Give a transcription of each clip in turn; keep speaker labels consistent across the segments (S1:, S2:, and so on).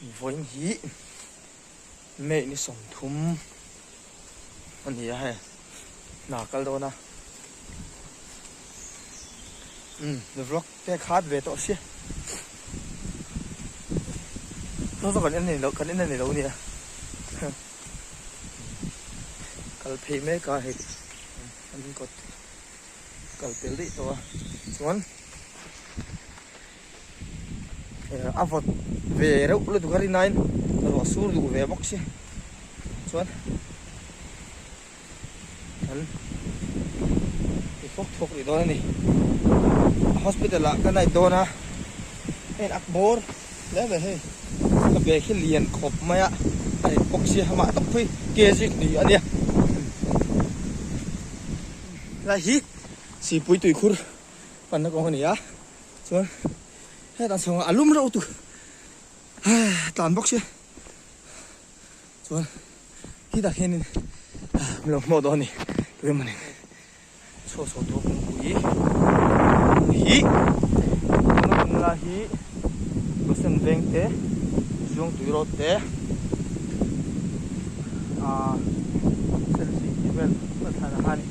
S1: Invawiin hi May ni sawmthum a ni a hei, hna a kal dawn a, umm vlog te khat ve tawh si, saw saw kan en anih loh kan en anih loh nia huh kal phei mek a hei an kawt kal tel daih tawh a chuan. a vawt ve reuh lutuk a rin aiin a ruah sur duh ve bawk si chuan an ti thuk thuk rih dawn a ni hospital ah ka nai dawn a heng ak bawr hle ve hei ka bag hi lian khawp mai a a rin bawk si a mah tak pui kg kni a nia helai hi sipui tuikhur panna kawng a ni a. chuan heta chhunga a lum reuh tu tlan bawk sia chuan khi tah khianin mi lo hmaw dawn ni tui mawni chho chho tur kawngpui hi la hi pasen veng te zawng tui rawt te a selfie ti vel a thlana han.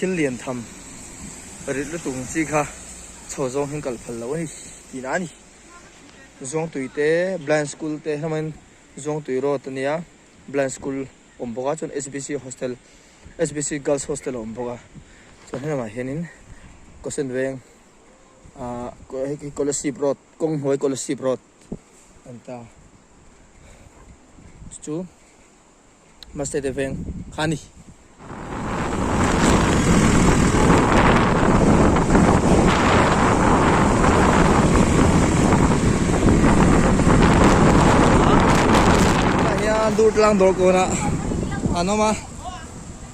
S1: Thil lian tham rilh lutuk ang chi kha chho zawng hian kal phal lo a ni tih na a ni. Zuangtui te Blind School te hlamain Zuangtui Road a nia Blind School awm bawk a chuan SBC Hostel SBC Girls Hostel a awm bawk a chuan helamah hianin Kosen Veng ahh Kolasib Road Kawng Hnuai Kolasib Road a ni ta chu chu. Mase te veng kha ni. Dur tlang dawr kawna an awm a.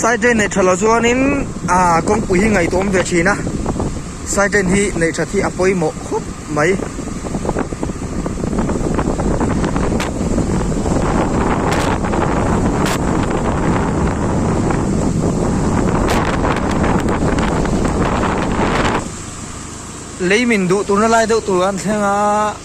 S1: Side lane neih tha loh chuanin aa kawngpui hi ngaih tuam ve thin a side lane hi neih that hi a pawimawh khawp mai lei min duh turna lai deuh tur an thleng a.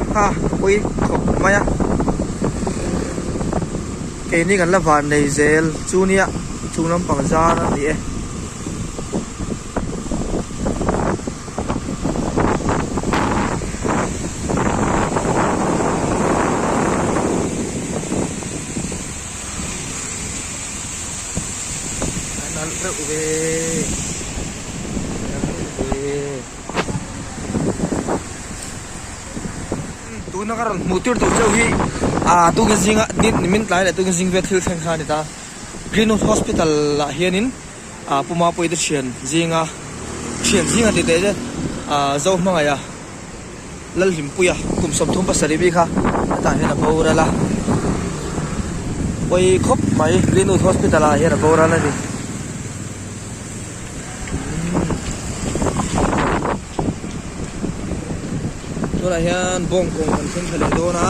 S1: Ha pui khawp mai a keini kan la van nei zel chu nia chung lampang zar a ni e nalh reuh ve nalh reuh ve. tuna ka rawn hmuh tir tur chauh hi ah tuna zinga ni ni min tlai leh tuna zing vel thil thleng kha a ni ta green roof hospital ah hianin ah puma pawi te thian zinga thian zing a ti teh te ah zo hmangaih a. Lalhlimpuia kum sawmthum pasarih bik a hetah hian a boral a pawi khawp mai Greenwood Hospital ah hian a boral a ni tunah hian bawng kawng kan thlen thla leh dawn a.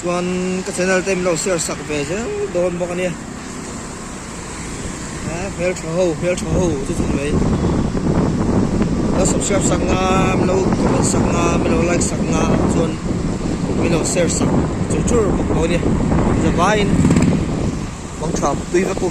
S1: chuan ka channel te min lo share sak ve zel dawn bawk a nia a hmeltha ho hmeltha ho chu chu mai min lo subscribe sak nga min lo comment sak nga min lo like sak nga chuan min lo share sak chur chur bawk dawn nia zavaiin mangtha pui vek u